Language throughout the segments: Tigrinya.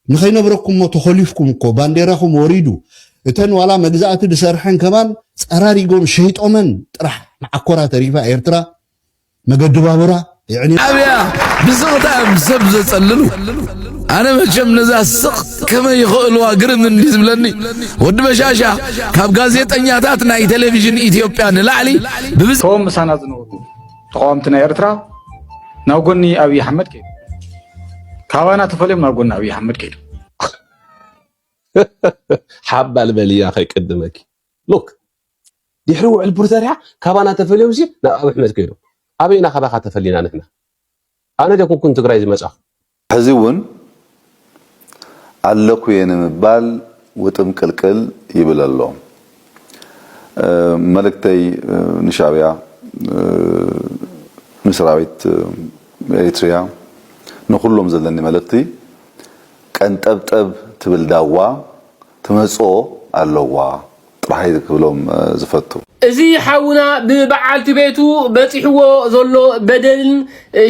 ንኸይነብረኩሞ ተኾሊፍኩም እኮ ባንዴራኹም ወሪዱ እተን ዋላ መግዛእቲ ድሰርሐን ከማን ጸራሪጎም ሸይጦመን ጥራሕ መዓኮራ ተሪፋ ኤርትራ መገዲ ባቡራ የዕንያ። ኣብያ ብስቕታ እዮም ሰብ ዘጸልሉ ኣነ መቸም ነዛ ስቕ ከመይ ይኽእልዋ ግርም እንዲ ዝብለኒ ወዲ በሻሻ ካብ ጋዜጠኛታት ናይ ቴሌቪዥን ኢትዮጵያ ንላዕሊ ብብዝ ቶም ምሳና ዝነበሩ ተቃወምቲ ናይ ኤርትራ ናብ ጎኒ ኣብይ ኣሕመድ ከይዱ ካባና ተፈልዮም ናብ ጎኒ ኣብይ ኣሕመድ ከይዱ ሓባል በልያ ከይቅድመኪ ሉክ ድሕሪ ውዕል ፕሪቶርያ ካባና ተፈልዮም ናብ ኣብ ኣሕመድ ከይዶም ኣበይና ካባካ ተፈሊና ንሕና ኣነ ደ ኩንኩን ትግራይ ዝመፃኹ ሕዚ እውን ኣለኩ እየ ንምባል ውጥምቅልቅል ይብል ኣሎ። መልእክተይ ንሻዕቢያ፣ ንሰራዊት ኤሪትሪያ፣ ንኹሎም ዘለኒ መልእኽቲ፣ ቀንጠብጠብ ትብል ዳዋ ትመጽኦ ኣለዋ ጥራሕይ ክብሎም ዝፈቱ። እዚ ሓውና ብበዓልቲ ቤቱ በጺሕዎ ዘሎ በደልን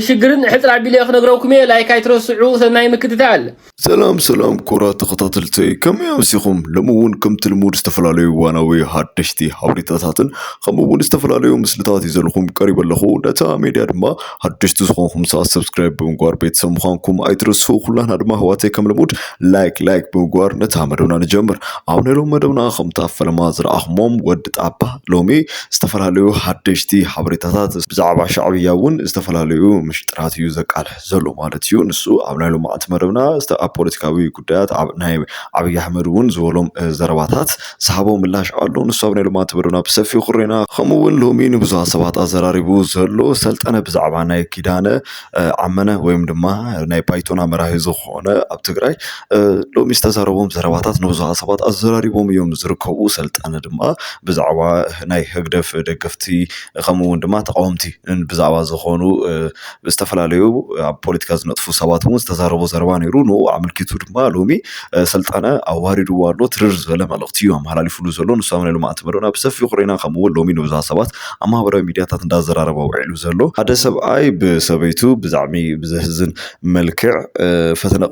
ሽግርን ሕጽር ኣቢለ ክነግረኩም እየ ላይክ ኣይትረስዑ ሰናይ ምክትታል። ሰላም ሰላም ክቡራት ተኸታተልተይ ከመይ ኣምሲኹም ሎሚ እውን ከምቲ ልሙድ ዝተፈላለዩ እዋናዊ ሃደሽቲ ሃበሬታታትን ከምኡ እውን ዝተፈላለዩ ምስልታት ሒዘልኹም ቀሪበ ኣለኹ ነታ ሜድያ ድማ ሓደሽቲ ዝኾንኩም ሰዓት ሰብስክራይብ ብምግባር ቤተሰብ ምዃንኩም ኣይትረስዑ። ኩላና ድማ ኣሕዋተይ ከም ልሙድ ላይክ ላይክ ብምግባር ነታ መደብና ንጀምር። ኣብ ናይ ሎሚ መደብና ከምታ ፈለማ ዝረኣኹሞም ወዲ ጣባ ሎሚ ዝተፈላለዩ ሓደሽቲ ሓበሬታታት ብዛዕባ ሻዕብያ እውን ዝተፈላለዩ ምሽጥራት እዩ ዘቃልሕ ዘሎ ማለት እዩ። ንሱ ኣብ ናይ ሎማዓንቲ መደብና ዝተ- ኣብ ፖለቲካዊ ጉዳያት ኣብ ናይ ዓብዪ ኣሕመድ እውን ዝበሎም እ፣ ዘረባታት ዝሃቦ ምላሽ ኣሎ። ንሱ ኣብ ናይ ሎማንቲ መደብና ብሰፊሑ ክሬና ከምኡ እውን ሎሚ ንብዙሃት ሰባት ኣዘራሪቡ ዘሎ ሰልጠነ ብዛዕባ ናይ ኪዳነ ዓመነ ወይም ድማ ናይ ባይቶና መራሒ ዝኾነ ኣብ ትግራይ ሎሚ ዝተዛረቦም ዘረባታት ንብዙሃት ሰባት ኣዘራሪቦም እዮም ዝርከቡ። ሰልጠነ ድማ ብዛዕባ ናይ ህግደፍ ደገፍቲ ከምኡ እውን ድማ ተቃወምቲ ብዛዕባ ዝኾኑ ዝተፈላለዩ ኣብ ፖለቲካ ዝነጥፉ ሰባት እውን ዝተዛረቦ ዘረባ ነይሩ ንኡ ኣመልኪቱ ድማ ሎሚ ስልጣነ ኣዋሪድዎ ኣሎ ትርር ዝበለ መልእኽቲ እዩ ኣመሓላሊፍሉ ዘሎ ንሳብ ናይ ልምዓት መደብና ብሰፊሑ ርኢና ከምኡ እውን ሎሚ ንብዙሃት ሰባት ኣብ ማህበራዊ ሚድያታት እንዳዘራረበ ውዒሉ ዘሎ ሓደ ሰብኣይ ብሰበይቱ ብዛዕሚ ብዘህዝን መልክዕ ፈተነ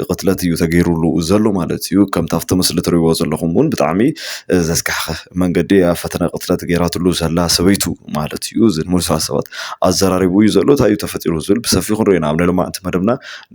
ቅትለት እዩ ተገይሩሉ ዘሎ ማለት እዩ ከምቲ ኣብቲ ምስሊ ትሪእዎ ዘለኹም እውን ብጣዕሚ ዘስካሕኽህ። መንገዲ እያ ፈተነ ቅትለት ገይራትሉ ዘላ ሰበይቱ ማለት እዩ እዚ ንሙሉእ ስነ ሰባት ኣዘራሪቡ እዩ ዘሎ እንታይ እዩ ተፈጢሩ ዝብል ብሰፊሑ ክንሪኦ ኢና ኣብ ናይ ሎማዕንቲ መደብና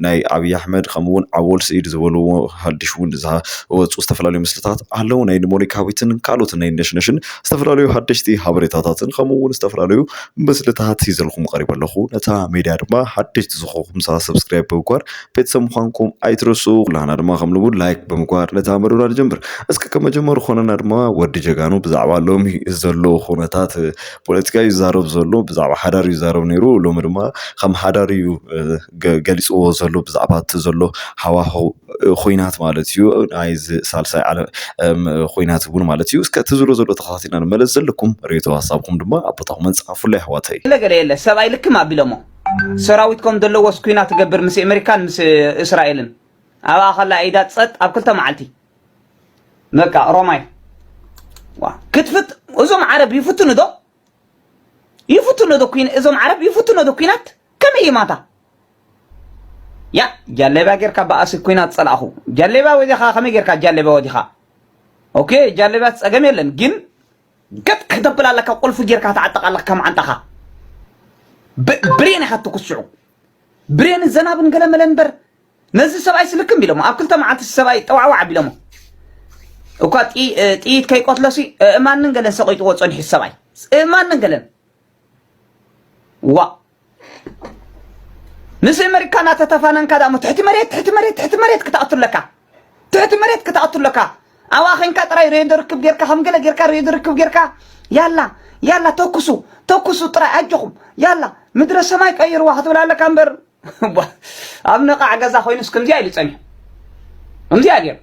ናይ ኣብዪ ኣሕመድ ከምኡ እውን ኣወል ስዒድ ዝበልዎ ሓድሽ እውን ዝወፁ ዝተፈላለዩ ምስልታት ኣለዉ ናይ ሞኒካዊትን ካልኦት ናይ ነሽነሽን ዝተፈላለዩ ሓደሽቲ ሓበሬታታትን ከምኡ እውን ዝተፈላለዩ ምስልታት ሒዘልኩም ቀሪበ ኣለኹ ነታ ሜድያ ድማ ሓደሽቲ ዝኾንኩም ሰብስክራይብ ብምግባር ቤተሰብ ምዃንኩም ኣይትረስኡ ኩላህና ድማ ከም ልሙድ ላይክ ብምግባር ነታ መደብና ንጀምር እስከ ከም መጀመሩ ኮነና ድማ ወዲ ጀጋኑ ብዛዕባ ሎሚ ዘሎ ኩነታት እ፣ ፖለቲካ እዩ ዝዛረብ ዘሎ ብዛዕባ ሓዳር እዩ ዝዛረብ ነይሩ ሎሚ ድማ ከም ሓዳር እዩ እ፣ ገ- ገሊፅዎ ዘሎ ብዛዕባ እቲ ዘሎ ሃዋህው እ፣ ኩናት ማለት እዩ ናይ እዚ ሳልሳይ ዓለም እም፣ ኩናት እውን ማለት እዩ እስከ እቲ ዝብሎ ዘሎ ተኸታቲልና ንመለስ ዘለኩም ርእይቶ ሃሳብኩም ድማ ኣብ ቦታኹም ፃሓፉለይ ኣሕዋተይ ገለ ገለ የለ ሰብኣይ ልክም ኣቢሎሞ ሰራዊት ከም ዘለዎስ ኩናት ትገብር ምስ ኣመሪካን ምስ እስራኤልን ኣብኣ ከላ ኢዳ ጸጥ ኣብ ክልተ መዓልቲ በቃ ሮማይ ዋ ክትፍት እዞም ዓረብ ይፍትኑ ዶ ይፍትኑ ዶ ኩን እዞም ዓረብ ይፍትኑ ዶ ኩናት ከመይ ይማታ ያ ጃለባ ጌርካ በኣሲ ኩናት ጸላእኹ ጃለባ ወዲኻ ከመይ ጌርካ ጃለባ ወዲኻ ኦኬ ጃለባ ጸገም የለን ግን ገጥ ክተብል ኣለካ ቁልፊ ጌርካ ተዓጠቕ ኣለካ ከም ዓንጣኻ ብሬን ኢኻ ትኩስዑ ብሬን ዘናብን ገለመለ እምበር ነዚ ሰብኣይ ስልክም ቢሎሞ ኣብ ክልተ መዓልቲ ሰብኣይ ጠዋዕዋዕ ቢሎሞ እኳ ጥይት ከይቆትለሲ እማንን ገለን ሰቂጥዎ ፀኒሑ ሰብኣይ እማንን ገለን ዋእ ምስ ኣመሪካ እናተተፋነንካ ደሞ ትሕቲ መሬት ትሕቲ መሬት ትሕቲ መሬት ክትኣቱ ኣለካ ትሕቲ መሬት ክትኣቱ ኣለካ ኣብኣ ኮንካ ጥራይ ሬድዮ ርክብ ጌርካ ከም ገለ ጌርካ ሬድዮ ርክብ ጌርካ ያላ ያላ ተኩሱ ተኩሱ ጥራይ ኣጆኹም ያላ ምድረ ሰማይ ቀይርዋ ክትብል ኣለካ እምበር ኣብ ነቓዕ ገዛ ኮይኑስ ከምዚኣ ኢሉ ጸኒሑ ከምዚኣ ገይሩ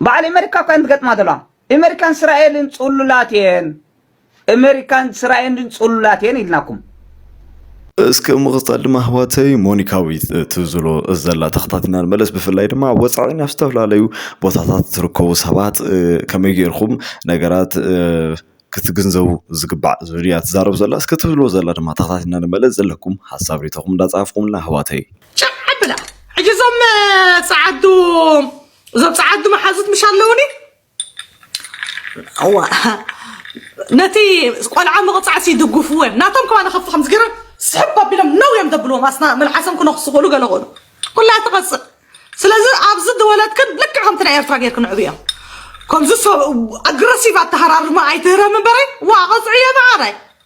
በዓል ኣሜሪካ እኳ እንትገጥማ ዘለዋ ኣሜሪካን እስራኤልን ጽሉላት እየን እመሪካን ስራኤንድን ጽሉላት እየን ኢልናኩም። እስኪ ብምቕፃል ድማ ኣሕዋተይ ሞኒካዊት ትብዝሎ ዘላ ተኸታቲና ንመለስ ብፍላይ ድማ ኣብ ወፃኢ ናብ ዝተፈላለዩ ቦታታት ትርከቡ ሰባት እ፣ ከመይ ጌርኩም ነገራት እ፣ ክትግንዘቡ ዝግባዕ ዝብል እያ ትዛረብ ዘላ እስኪ ትብሎ ዘላ ድማ ተኸታቲና ንመለስ ዘለኩም ሓሳብ ሪኢቶኹም እንዳፀሓፍኩምልና ኣሕዋተይ ጭዕ ኣብላ ሕጂ እዞም እ፣ ጸዓዱ እዞም ጸዓዱ መሓዙት ምሽ ኣለውኒ እዋ ነቲ ቆልዓ ምቕፃዕሲ ይድግፍዎ እዮም ናቶም ከማ ንኸፍ ከም ዝገረ ስሕብ ኣቢሎም ነው እዮም ዘብልዎም ኣስና መልሓሶም ክነኽሱ ክእሉ ገለ ክእሉ ኩላ ትቐፅእ ስለዚ ኣብዚ ዝወለድክን ልክዕ ከምቲ ናይ ኤርትራ ጌርክን ዕብዮ ከምዚ ኣግረሲቭ ኣተሃራርማ ኣይትህረም እምበረይ ዋ ቐፅዕዮ መዓረይ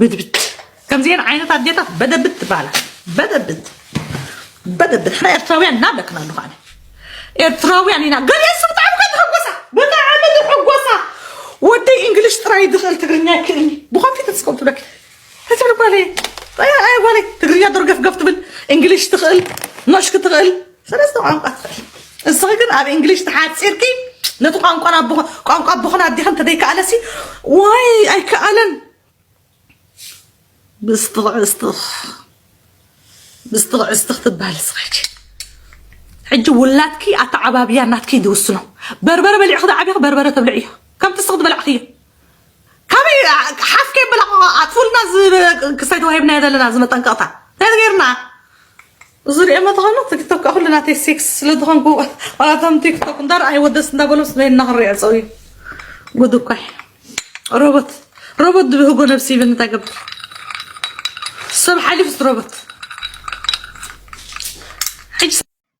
ብድብት ከምዚኤን ዓይነት ኣዴታት በደብት ትበሃላ በደብት በደብት ሕና ኤርትራውያን ኢና ብለክና ኣለኹ ኣነ ኤርትራውያን ኢና ገሊኦ ሰብ ብጣዕሚ ከ ተሐጎሳ ብጣዕሚ ተሐጎሳ ወደይ እንግሊሽ ጥራይ ዝኽእል ትግርኛ ይክእልኒ ብኮፊ ተስከው ትብለክ ተትብል ጓለይ ኣይ ጓለይ ትግርኛ ዶርገፍገፍ ትብል እንግሊሽ ትኽእል ኖሽክ ትኽእል ሰለስተ ቋንቋ ትኽእል እስኺ ግን ኣብ እንግሊሽ ተሓፂርኪ ነቲ ቋንቋ ቋንቋ ኣቦኽን ኣዴኽን ተደይከኣለሲ ዋይ ኣይከኣለን ብስትኽዕስትኽ ብስትኽዕስትኽ ትበሃል ስኸጂ ሕጂ ውላድኪ ኣተዓባብያ ናትኪ ዝውስኖ በርበረ በሊዕኺ ዝዓብኺ በርበረ ተብልዕ እዩ ከምቲ ስኽ ዝበላዕኺ እዩ ካበይ ሓፍ ከይበላኹ ኣጥፉልና ክሳይ ተዋሂብናዮ ዘለና ዝመጠንቀቕታ እንታይ ገይርና ዝሪኦ መታከናት ቲክቶክ ከኣ ኩሉ ናተይ ሴክስ ስለ ዝኮንኩ ዋላ እቶም ቲክቶክ እንዳ ረኣይዎ ደስ እንዳ በሎም ስለ እና ክንሪኦ ጸውዩ ጉድ እኮ እዩ ሮቦት ሮቦት ድብህጎ ነብሲ ይብል እንታይ ገብር ሰብ ሓሊፍስ ሮቦት ሕጂ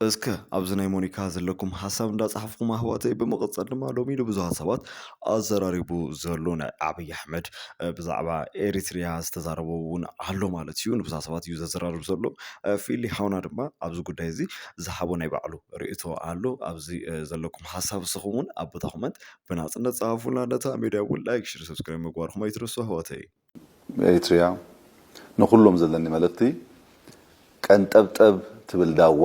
እስከ ኣብዚ ናይ ሞኒካ ዘለኩም ሓሳብ እንዳፃሓፍኩም ኣህዋተይ ብምቕፀል ድማ ሎሚ ንብዙሃት ሰባት ኣዘራሪቡ ዘሎ ናይ ኣብይ ኣሕመድ ብዛዕባ ኤሪትሪያ ዝተዛረቦ እውን ኣሎ ማለት እዩ ንብዙሃት ሰባት እዩ ዘዘራርብ ዘሎ ፊሊ ሓውና ድማ ኣብዚ ጉዳይ እዚ ዝሓቦ ናይ ባዕሉ ርእቶ ኣሎ ኣብዚ ዘለኩም ሓሳብ ንስኹም እውን ኣብ ቦታ ኮመንት ብናፅነት ፀሃፉልና ነታ ሚድያ እውን ላይክ ሽር ሰብስክራይብ ምግባርኩም ኣይትረሱ ኣሕዋተይ ኤሪትሪያ ንኹሎም ዘለኒ መልእኽቲ ቀንጠብጠብ ትብል ዳዋ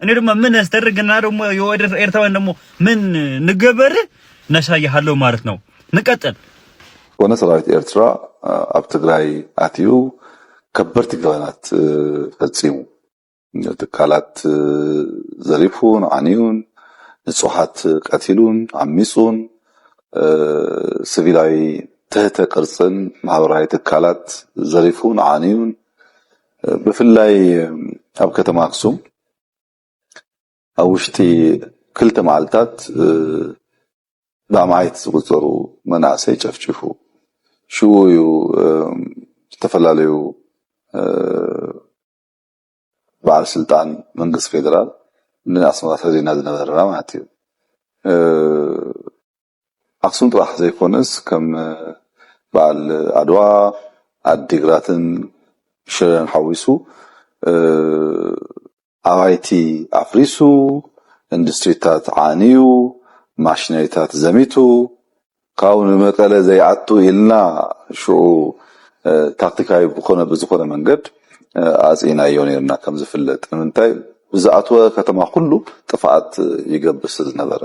እኔ ደግሞ ምን ያስደርግና ደግሞ የወደ ኤርትራውያን ደግሞ ምን ንገበር ነሳይሃለሁ ማለት ነው። ንቀጥል ኮነ ሰራዊት ኤርትራ ኣብ ትግራይ ኣትዩ ከበድቲ ገበናት ፈፂሙ ትካላት ዘሪፉን ዓንዩን ንፁሓት ቀቲሉን ዓሚፁን ስቪላዊ ትህተ ቅርፅን ማህበራዊ ትካላት ዘሪፉን ዓንዩን ብፍላይ ኣብ ከተማ ኣክሱም ኣብ ውሽጢ ክልተ መዓልታት ብኣማኢት ዝቑፀሩ መናእሰይ ጨፍጪፉ። ሽኡ እዩ ዝተፈላለዩ በዓል ስልጣን መንግስቲ ፌደራል ንኣስመራ ሰዲድና ዝነበርና ማለት እዩ። ኣክሱም ጥራሕ ዘይኮነስ ከም በዓል ዓድዋ ዓዲግራትን ሽረን ሓዊሱ ኣባይቲ ኣፍሪሱ ኢንዱስትሪታት ዓንዩ ማሽነሪታት ዘሚቱ ካብኡ ንመቀለ ዘይኣቱ ኢልና ሽዑ ታክቲካዊ ብኮነ ብዝኮነ መንገድ ኣጽኢናዮ ነርና ከምዝፍለጥ ንምንታይ ብዝኣትወ ከተማ ኩሉ ጥፍኣት ይገብር ስለዝነበረ።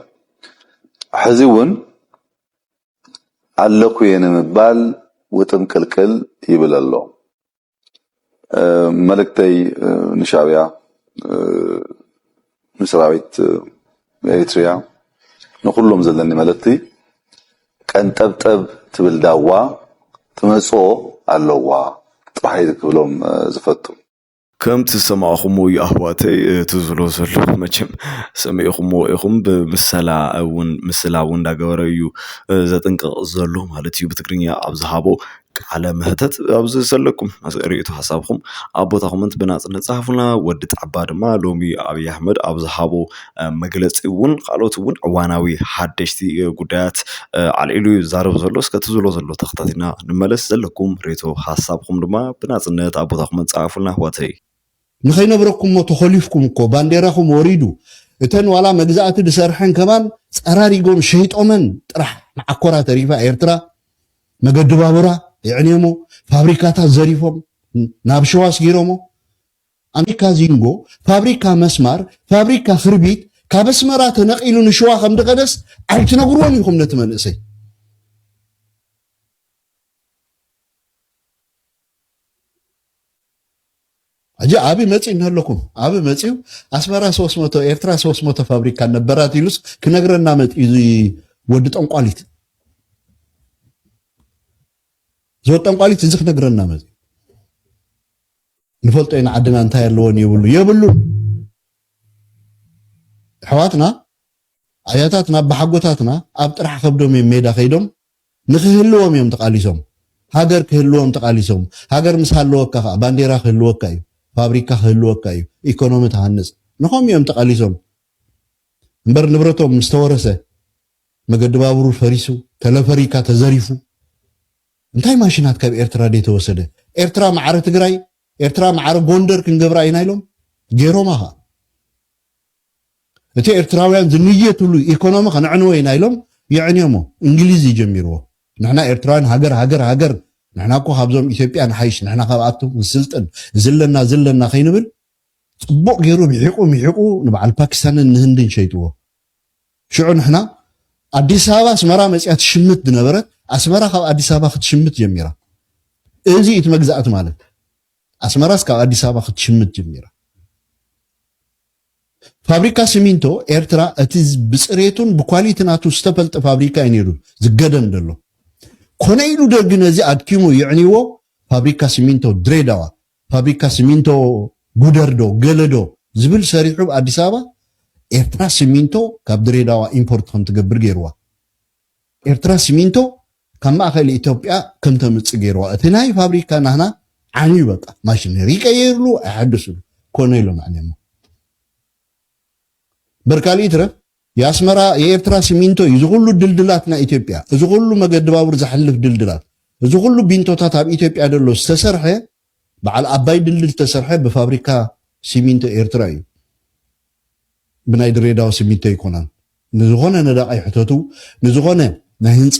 ሕዚ እውን ኣለኩ እየ ንምባል ውጥምቅልቅል ይብል ኣሎ። መልእክተይ ንሻዕቢያ ንሰራዊት ኤሪትሪያ ንኩሎም ዘለኒ መልእክቲ ቀንጠብጠብ ትብል ዳዋ ትመጽኦ ኣለዋ ጥራሕ እየ ክብሎም ዝፈቱ። ከምቲ ዝሰማዕኹምዎ እዩ ኣሕዋተይ እቲ ዝብሎ ዘሎ መቸም ሰሚዕኹምዎ ኢኹም ብምሰላ እውን ምስላ እውን እንዳገበረ እዩ ዘጥንቅቕ ዘሎ ማለት እዩ ብትግርኛ ኣብ ዝሃቦ ቃለ መሕተት ኣብዚ ዘለኩም ርእይቶ ሓሳብኩም ኣብ ቦታኹም ብናፅነት ፀሓፉልና ወዲ ጣባ ድማ ሎሚ ኣብይ ኣሕመድ ኣብ ዝሃቦ መግለጺ እውን ካልኦት እውን ዕዋናዊ ሓደሽቲ ጉዳያት ኣልዒሉ እዩ ዝዛረብ ዘሎ እስከ እቲ ዝብሎ ዘሎ ተኸታቲና ንመለስ ዘለኩም ሬቶ ሓሳብኩም ድማ ብናጽነት ኣብ ቦታኹም ጸሓፉልና ኣሕዋተይ ንኸይነብረኩሞ ተኾሊፍኩም እኮ ባንዴራኹም ወሪዱ እተን ዋላ መግዛእቲ ድሰርሐን ከማን ጸራሪጎም ሸይጦመን ጥራሕ ንዓኮራ ተሪፋ ኤርትራ መገዲ ባቡራ የዕንየሞ ፋብሪካታት ዘሪፎም ናብ ሸዋ ኣስጊሮሞ ፋብሪካ ዚንጎ፣ ፋብሪካ መስማር፣ ፋብሪካ ክርቢት ካብ ኣስመራ ተነቒሉ ንሽዋ ከም ድኸደስ ኣይትነግርዎን ኢኹም ነቲ መንእሰይ። ሕጂ ኣብይ መጺኡ እንሀለኩም ኣብይ መጺኡ ኣስመራ ሶስት መቶ ኤርትራ ሶስት መቶ ፋብሪካ ነበራት ኢሉስ ክነግረና መጺኡ እዚ ወዲ ጠንቋሊት እዚ ወዲ ጠንቋሊት እዚ ክነግረና መጺኡ ንፈልጦ ኢና ዓድና እንታይ ኣለዎን የብሉ የብሉን ኣሕዋትና ኣያታትና ኣቦሓጎታትና ኣብ ጥራሕ ከብዶም እዮም ሜዳ ከይዶም ንክህልዎም እዮም ተቃሊሶም ሃገር ክህልዎም ተቃሊሶም ሃገር ምስ ሃለወካ ከዓ ባንዴራ ክህልወካ እዩ ፋብሪካ ክህልወካ እዩ ኢኮኖሚ ትሃንፅ ንኸም እዮም ተቃሊሶም እምበር ንብረቶም ምስተወረሰ መገዲ ባቡሩ ፈሪሱ ተለፈሪካ ተዘሪፉ እንታይ ማሽናት ካብ ኤርትራ ደይ ተወሰደ ኤርትራ ማዕረ ትግራይ ኤርትራ ማዕረ ጎንደር ክንገብራ ኢና ኢሎም ገይሮማ ከኣ እቲ ኤርትራውያን ዝንየትሉ ኢኮኖሚ ከነዕንዎ ኢና ኢሎም የዕንዮሞ እንግሊዝ እዩ ጀሚርዎ ንሕና ኤርትራውያን ሃገር ሃገር ሃገር ንሕና እኮ ካብዞም ኢትዮጵያ ንሓይሽ ንሕና ካብኣቶም ንስልጥን እዚ ኣለና እዚ ኣለና ከይንብል ጽቡቕ ገይሩ ምሒቑ ምሒቑ ንበዓል ፓኪስታንን ንህንድን ሸይጥዎ ሽዑ ንሕና ኣዲስ ኣበባ ኣስመራ መጺኣ ትሽምት ዝነበረት ኣስመራ ካብ ኣዲስ ኣበባ ክትሽምት ጀሚራ እዚ እዩ እቲ መግዛእቲ ማለት ኣስመራስ ካብ ኣዲስ ኣበባ ክትሽምት ጀሚራ ፋብሪካ ሲሚንቶ ኤርትራ እቲ ብፅሬቱን ብኳሊቲ ናቱ ዝተፈልጠ ፋብሪካ እዩ ነይሩ ዝገደም ዘሎ ኮነ ኢሉ ደርጊ ነዚ ኣድኪሙ ይዕንይዎ ፋብሪካ ሲሚንቶ ድሬዳዋ ፋብሪካ ስሚንቶ ጉደር ዶ ገለ ዶ ዝብል ሰሪሑ ብ ኣዲስ ኣበባ ኤርትራ ስሚንቶ ካብ ድሬዳዋ ኢምፖርት ከም ትገብር ገይርዋ ኤርትራ ስሚንቶ ካብ ማእከል ኢትዮጵያ ከም ተምጽእ ገይርዋ እቲ ናይ ፋብሪካ ናህና ዓንዩ በቃ ማሽነሪ ይቀየርሉ ኣይሓድስሉ ኮነ ኢሎም ኣዕንዮሞ እምበር ካልእ ይትረፍ ያስመራ የኤርትራ ሲሚንቶ እዩ እዚ ኩሉ ድልድላት ናይ ኢትዮጵያ እዚ ኩሉ መገዲ ባቡር ዘሕልፍ ድልድላት እዚ ኩሉ ቢንቶታት ኣብ ኢትዮጵያ ደሎ ዝተሰርሐ በዓል ኣባይ ድልድል ዝተሰርሐ ብፋብሪካ ሲሚንቶ ኤርትራ እዩ ብናይ ድሬዳዋ ሲሚንቶ ኣይኮናን ንዝኾነ ነዳቃይ ሕተቱ ንዝኾነ ናይ ህንጻ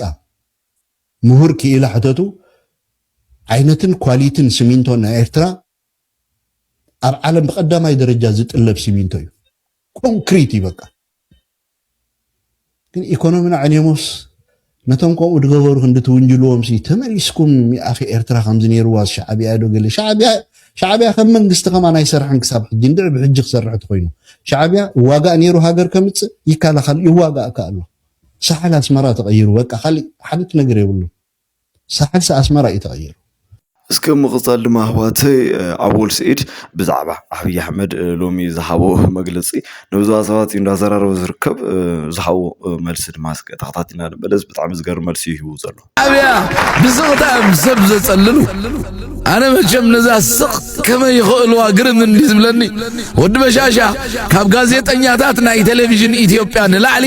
ምሁር ክኢላ ሕተቱ ዓይነትን ኳሊትን ሲሚንቶ ናይ ኤርትራ ኣብ ዓለም ብቀዳማይ ደረጃ ዝጥለብ ሲሚንቶ እዩ ኮንክሪት እዩ በቃ ግን ኢኮኖሚና ዕኔሞስ ነቶም ከምኡ ዝገበሩ ክንዲ ትውንጅልዎም ሲ ተመሊስኩም ኣኺ ኤርትራ ከምዚ ነይርዋ ሻዕብያ ዶ ገለ ሻዕብያ ሻዕብያ ከም መንግስቲ ከማን ኣይሰርሐን ክሳብ ሕጂ እንድዕ ብሕጂ ክሰርሕ ተኮይኑ ሻዕብያ ዋጋእ ነይሩ ሃገር ከምፅእ ይከላኸል ይዋጋእ ከ ኣሎ ሳሕል ኣስመራ ተቐይሩ በቃ ካሊእ ሓንቲ ነገር የብሉን ሳሕልሲ ኣስመራ እዩ ተቀይሩ። እስከ ብምቅጻል ድማ ኣሕዋተይ ኣወል ስዒድ ብዛዕባ ኣብይ ኣሕመድ ሎሚ ዝሃቦ መግለጺ ንብዙሓት ሰባት እዩ እንዳዘራረበ ዝርከብ ዝሃቦ መልሲ ድማ እስከ ተኸታቲልና ንመለስ ብጣዕሚ ዝገርም መልሲ እዩ ሂቡ ዘሎ። ኣብያ ብስቕታ እዮም ሰብ ዘጸልሉ ኣነ መቸም ነዛ ስቕ ከመይ ይኽእልዋ ግርም እንዲ ዝብለኒ ወዲ በሻሻ ካብ ጋዜጠኛታት ናይ ቴሌቪዥን ኢትዮጵያ ንላዕሊ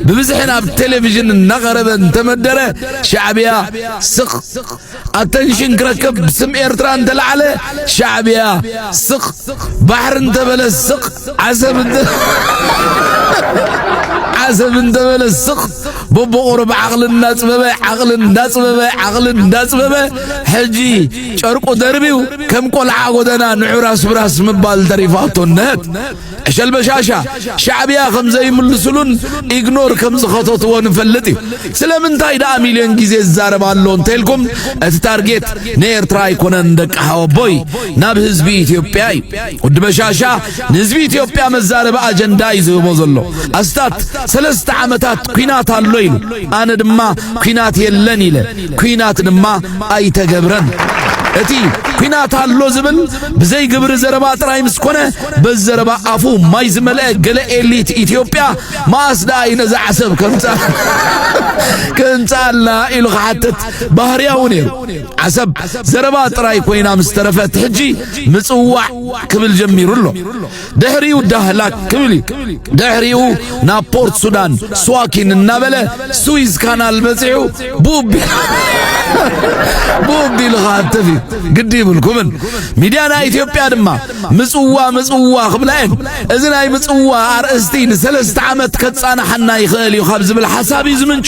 ብብዝሒ ናብ ቴሌቪዥን እናቐረበ እንተመደረ ሻዕብያ ስቕ ኣተንሽን ክረከብ ስም ኤርትራ እንተላዕለ ሻዕብያ ስቕ ባሕሪ እንተበለ ስቕ ዓሰብ እንተ ዓሰብ እንተበለ ስቕ በቦቑሩብ ዓቕሊ እናፅበበ ዓቕሊ እናፅበበ ዓቕሊ እናፅበበ ሕጂ ጨርቁ ደርብዩ ከም ቆልዓ ጎደና ንዑራስ ብራስ ምባል ተሪፋቶ ነት ዕሸል በሻሻ ሻዕብያ ከም ዘይምልስሉን ኢግኖር ከም ዝኸተትዎ ንፈልጥ እዩ ስለምንታይ ደኣ ሚልዮን ግዜ ዝዛረብ ኣሎ እንተልኩም እቲ ታርጌት ንኤርትራ ኣይኮነን ደቂ ሓወቦይ ናብ ህዝቢ ኢትዮጵያ እዩ ወዲ በሻሻ ንህዝቢ ኢትዮጵያ መዛረቢ ኣጀንዳ እዩ ዝህቦ ዘሎ ኣስታት ሰለስተ ዓመታት ኩናት ኣሎ ኢሉ ኣነ ድማ ኩናት የለን ኢለ ኩናት ድማ ኣይተገብረን። እቲ ኩናት ኣሎ ዝብል ብዘይ ግብሪ ዘረባ ጥራይ ምስ ኮነ በዚ ዘረባ ኣፉ ማይ ዝመልአ ገለ ኤሊት ኢትዮጵያ መኣስ ደኣ እዩ ነዛ ዓሰብ ከምጻልና ኢሉ ክሓትት ባህርያዊ ነይሩ። ዓሰብ ዘረባ ጥራይ ኮይና ምስ ተረፈት ሕጂ ምጽዋዕ ክብል ጀሚሩ ኣሎ። ድሕሪኡ ዳህላክ ክብል እዩ ድሕሪኡ ናብ ፖርት ሱዳን ስዋኪን እናበለ ስዊዝ ካናል በፂዑ ቡቢ ቡቢ ኢሉ ኸዓ ተፊ ግዲ ይብልኩምን ሚድያ ናይ ኢትዮጵያ ድማ ምፅዋ ምፅዋ ክብላ እየን እዚ ናይ ምፅዋ ኣርእስቲ ንሰለስተ ዓመት ከፃናሓና ይኽእል እዩ ካብ ዝብል ሓሳብ እዩ ዝምንጩ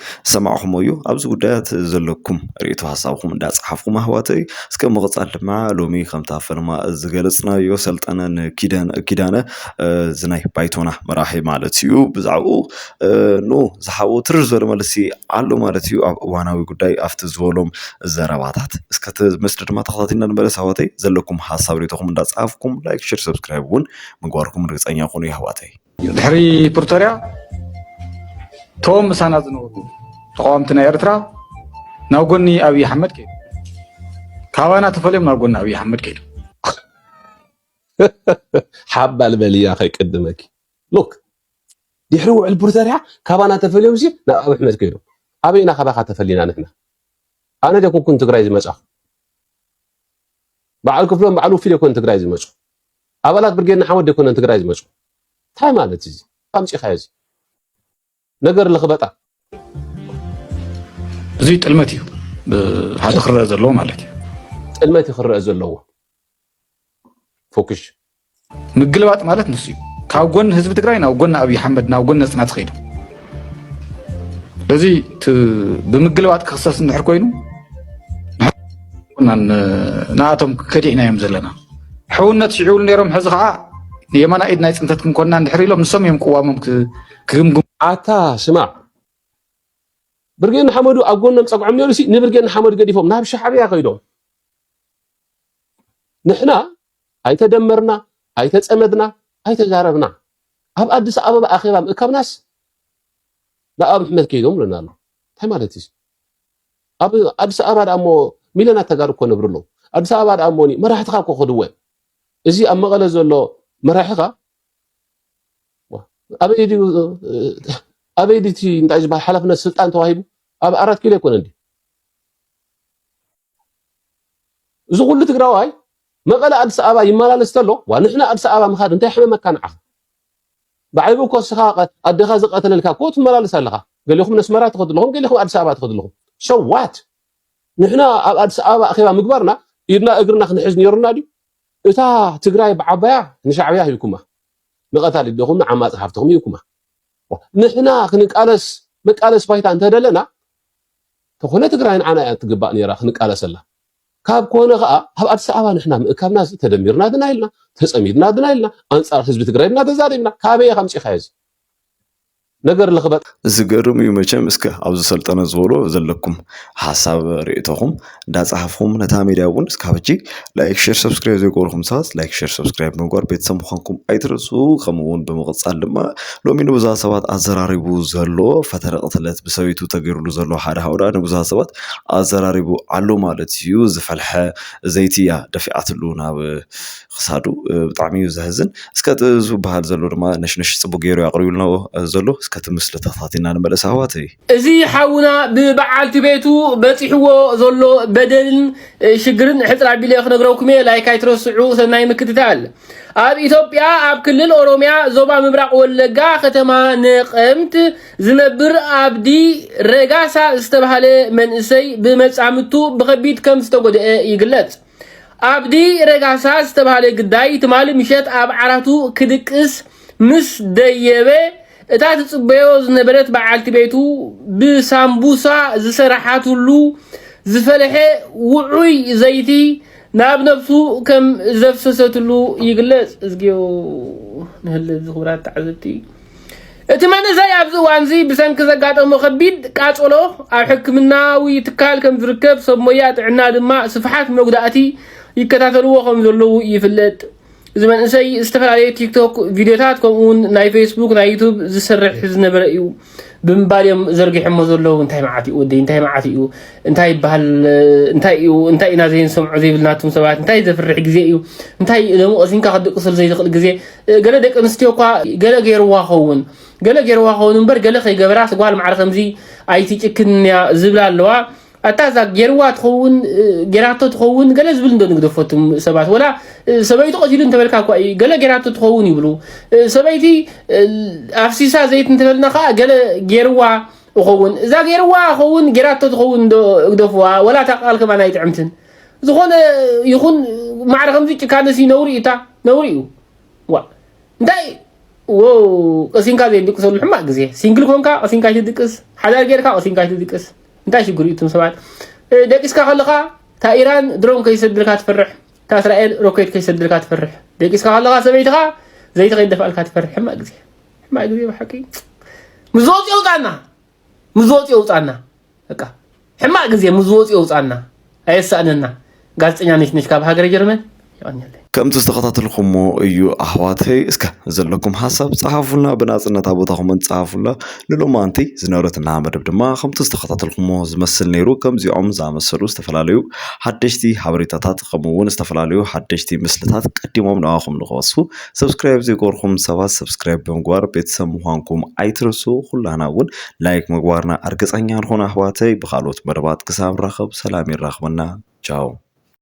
ዝሰማዕኹሞ እዩ ኣብዚ ጉዳያት ዘለኩም ርእቶ ሀሳብኩም እንዳጻሓፍኩም ኣሕዋተይ እስከ ምቕጻል ድማ ሎሚ ከምታ ፈለማ ዝገለጽናዮ ሰልጠነ ንኪዳነ ኪዳነ እዚ ናይ ባይቶና መራሒ ማለት እዩ ብዛዕኡ ን ዝሓቦ ትርር ዝበለ መልሲ ኣሎ ማለት እዩ ኣብ እዋናዊ ጉዳይ ኣብቲ ዝበሎም ዘረባታት እስከ እቲ ምስሊ ድማ ተኸታቲልና ንመለስ ኣሕዋተይ ዘለኩም ሀሳብ ርእቶኹም እንዳጻሓፍኩም ላይክ ሼር ሰብስክራይብ እውን ምግባርኩም ርግጸኛ ኩኑ የሕዋተይ። ድሕሪ ፕሪቶርያ እቶም ምሳና ዝነበሩ ተቃወምቲ ናይ ኤርትራ ናብ ጎኒ ኣብዪ ኣሕመድ ከይዱ ካባና ተፈልዮም ናብ ጎኒ ኣብዪ ኣሕመድ ከይዱ ሓባል በልያ ከይቅድመኪ ሉክ ድሕሪ ውዕል ፕሪቶርያ ካባና ተፈልዮም ሲ ናብ ኣብ ኣሕመድ ከይዱ ኣበይና ካባካ ተፈሊና ንሕና ኣነ ደ ኩንኩን ትግራይ ዝመፃኹ በዓል ክፍሎም በዓል ውፊ ደ ኮን ትግራይ ዝመፁ ኣባላት ብርጌድ ንሓመዱ ኣይኮነን ትግራይ ዝመጹ ታይ ማለት እዩ እዚ ኣምጺኻዮ እዚ ነገር ለኽበጣ። እዚ ጥልመት እዩ ሓደ ክረአ ዘለዎ ማለት እዩ ጥልመት እዩ ክረአ ዘለዎ ፎክሽ ምግልባጥ ማለት ንሱ እዩ ካብ ጎኒ ህዝቢ ትግራይ ናብ ጎኒ ኣብይ ሓመድ ናብ ጎኒ ነፅና ትኸይዱ በዚ ብምግልባጥ ክክሰስ እንድሕር ኮይኑ ንኣቶም ከዲዕና እዮም ዘለና ሕውነት ሽዒብሉ ነይሮም ሕዚ ከዓ የማና ኢድ ናይ ፅንተት ክንኮና እንድሕር ኢሎም ንሶም እዮም ቅዋሞም ክግምግሙ ኣታ ስማዕ ብርጌድ ንሓመዱ ኣብ ጎኖም ፀግዖም ነይሩ ሲ ንብርጌድ ንሓመዱ ገዲፎም ናብ ሻዕብያ ከይዶም ንሕና ኣይተደመርና ኣይተፀመድና ኣይተዛረብና ኣብ ኣዲስ ኣበባ ኣኼባ ምእካብናስ ንኣብ ኣሕመድ ከይዶም ብለና ኣሎ እንታይ ማለት እዩ ኣብ ኣዲስ ኣበባ ድኣ እሞ ሚልዮናት ተጋሩ እኮ ነብሩ ኣለዉ ኣዲስ ኣበባ ድኣ እሞኒ መራሕትኻ እኮ ከድወ እዚ ኣብ መቐለ ዘሎ መራሒኻ ኣበይ ድዩ ኣበይ ድዩ እቲ እንታይ ዝበሃል ሓላፍነት ስልጣን ተዋሂቡ ኣብ ኣራት ኪሎ ኣይኮነን ድዩ እዚ ኩሉ ትግራዋይ መቐለ ኣዲስ ኣበባ ይመላለስ ተሎ ዋ ንሕና ኣዲስ ኣበባ ምኻድ እንታይ ሕመመካ ንዓኻ ብዓይቡ እኮ እስኻ ኣደኻ ዝቀተለልካ እኮ ትመላለስ ኣለኻ ገሌኹም ነስመራ ትኸዱ ኣለኹም ገሌኹም ኣዲስ ኣበባ ትኸዱ ኣለኹም so what ንሕና ኣብ ኣዲስ ኣበባ ኣኼባ ምግባርና ኢድና እግርና ክንሕዝ ነይሩና ድዩ እታ ትግራይ ብዓባያ ንሻዕብያ ሂብኩማ ንቀታሊ ደኹም ንዓማጺ ሃፍትኹም ሂብኩማ ንሕና ክንቃለስ መቃለስ ባይታ እንተደለና ተኾነ ትግራይ ንዓና እያ ትግባእ ነይራ ክንቃለሰላ ካብ ኮነ ከኣ ኣብ ኣዲስ ኣበባ ንሕና ምእካብና እዚ ተደሚርና ድና ኢልና ተጸሚድና ድና ኢልና ኣንጻር ህዝቢ ትግራይ ድና ተዛሪብና ካበይ ኢኻ ኣምጺኻዮ እዚ ነገር ለኽበጥ ዝገርም እዩ መቸም እስከ ኣብዚ ሰልጠነ ዝበሎ ዘለኩም ሓሳብ ርእቶኹም እንዳጻሓፍኹም ነታ ሜድያ እውን እስካብ ሕጂ ላይክ ሼር ሰብስክራይብ ዘይገበርኩም ሰባት ላይክ ሼር ሰብስክራይብ ምግባር ቤተሰብ ምዃንኩም ኣይትረሱ ከምኡ እውን ብምቕጻል ድማ ሎሚ ንብዙሃት ሰባት ኣዘራሪቡ ዘሎ ፈተነ ቅትለት ብሰበይቱ ተገይሩሉ ዘሎ ሓደ ሃውራ ንብዙሃት ሰባት ኣዘራሪቡ ኣሎ ማለት እዩ። ዝፈልሐ ዘይቲ እያ ደፊኣትሉ ናብ ክሳዱ ብጣዕሚ እዩ ዘሕዝን። እስከ እቲ ዝበሃል ዘሎ ድማ ነሽነሽ ጽቡቅ ገይሩ እዩ ኣቅሪቡልና ዘሎ። እስከ እቲ ምስሊ ተኸታቲልና ንመለስ ኣሕዋተይ። እዚ ሓውና ብበዓልቲ ቤቱ በጺሕዎ ዘሎ በደልን ሽግርን ሕጽር ኣቢለ ክነግረኩም እየ ላይክ ኣይትረስዑ ሰናይ ምክትታል። ኣብ ኢትዮጵያ ኣብ ክልል ኦሮሚያ ዞባ ምብራቕ ወለጋ ከተማ ነቐምት ዝነብር ኣብዲ ረጋሳ ዝተባህለ መንእሰይ ብመጻምቱ ብኸቢድ ከም ዝተጎድአ ይግለጽ። ኣብዲ ረጋሳ ዝተባህለ ግዳይ ትማሊ ምሸት ኣብ ዓራቱ ክድቅስ ምስ ደየበ እታ ትጽበዮ ዝነበረት በዓልቲ ቤቱ ብሳምቡሳ ዝሰራሓትሉ ዝፈለሐ ውዑይ ዘይቲ ናብ ነብሱ ከም ዘፍሰሰትሉ ይግለጽ። እዝግዮ ንህልት ዝኽብራት ተዓዘብቲ እቲ መንእሰይ ኣብዚ እዋንዚ ብሰንኪ ዘጋጠሞ ከቢድ ቃጸሎ ኣብ ሕክምናዊ ትካል ከም ዝርከብ ሰብ ሞያ ጥዕና ድማ ስፍሓት መጉዳእቲ ይከታተልዎ ከም ዘለዉ ይፍለጥ። እዚ መንእሰይ ዝተፈላለዩ ቲክቶክ ቪድዮታት ከምኡ እውን ናይ ፌስቡክ ናይ ዩቱብ ዝስርሕ ዝነበረ እዩ ብምባል እዮም ዘርጊሖሞ ዘለዉ እንታይ መዓት እዩ ወደይ እንታይ መዓት እዩ እንታይ ይበሃል እንታይ እዩ እንታይ ኢና ዘይንሰምዖ ዘይብልናቶም ሰባት እንታይ ዘፍርሕ ግዜ እዩ እንታይ ደሞ ቀሲንካ ክድቅስል ዘይትኽእል ግዜ ገለ ደቂ ኣንስትዮ እኳ ገለ ገይርዋ ኸውን ገለ ገይርዋ ኸውን እምበር ገለ ከይገበራስ ጓል ማዕረ ከምዚ ኣይትጭክንያ ዝብላ ኣለዋ ኣታ እዛ ጌርዋ ትኸውን ጌራቶ ትኸውን ገለ ዝብል እንዶ ንግደፎ እቶም ሰባት ወላ ሰበይቱ ቀቲሉ እንተበልካ እኳ እዩ ገለ ጌራቶ ትኸውን ይብሉ ሰበይቲ ኣፍሲሳ ዘይት እንተበልና ከዓ ገለ ጌርዋ እኸውን እዛ ጌርዋ ኸውን ጌራቶ ትኸውን እንዶ እግደፍዋ ወላ እታ ቃል ከማን ኣይጥዕምትን ዝኾነ ይኹን ማዕረ ከምዚ ጭካነሲ ነውሪ እታ ነውሪ እዩ ዋ እንታይ ቀሲንካ ዘይድቅሰሉ ሕማቅ ግዜ ሲንግል ኮንካ ቀሲንካ ኣይትድቅስ ሓዳር ጌርካ ቀሲንካ ኣይትድቅስ እንታይ ሽግር እዩ እቶም ሰባት ደቂስካ ከለኻ እታ ኢራን ድሮን ከይሰድልካ ትፈርሕ እታ እስራኤል ሮኬት ከይሰድልካ ትፈርሕ ደቂስካ ከለኻ ሰበይትኻ ዘይቲ ከይደፋልካ ትፈርሕ ሕማቅ ግዜ ሕማቅ ግዜ ብሓቂ ምስ ዝወፅ የውፃና ምስ ዝወፅ የውፃና በቃ ሕማቅ ግዜ ምስ ዝወፅ የውፃና ኣየሳእነና ጋዝጠኛ ነሽነሽ ካብ ሃገረ ጀርመን የቀንየለይ። ከምቲ ዝተከታተልኩሞ እዩ ኣሕዋተይ እስከ ዘለኩም ሓሳብ ጸሓፉልና ብናጽነት ኣብ ቦታኹምን ጸሓፉላ ንሎማንቲ ዝነበረትና መደብ ድማ ከምቲ ዝተከታተልኩሞ ዝመስል ነይሩ ከምዚኦም ዝኣመሰሉ ዝተፈላለዩ ሓደሽቲ ሓበሬታታት ከምኡ እውን ዝተፈላለዩ ሓደሽቲ ምስልታት ቀዲሞም ንኣኹም ንክበጽሑ ሰብስክራይብ ዘይገበርኩም ሰባት ሰብስክራይብ ብምግባር ቤተሰብ ምዃንኩም ኣይትረሱ ኩላና እውን ላይክ ምግባርና ኣርግጸኛ ንኹን ኣሕዋተይ ብኻልኦት መደባት ክሳብ ንራኸብ ሰላም የራኽበና ቻው።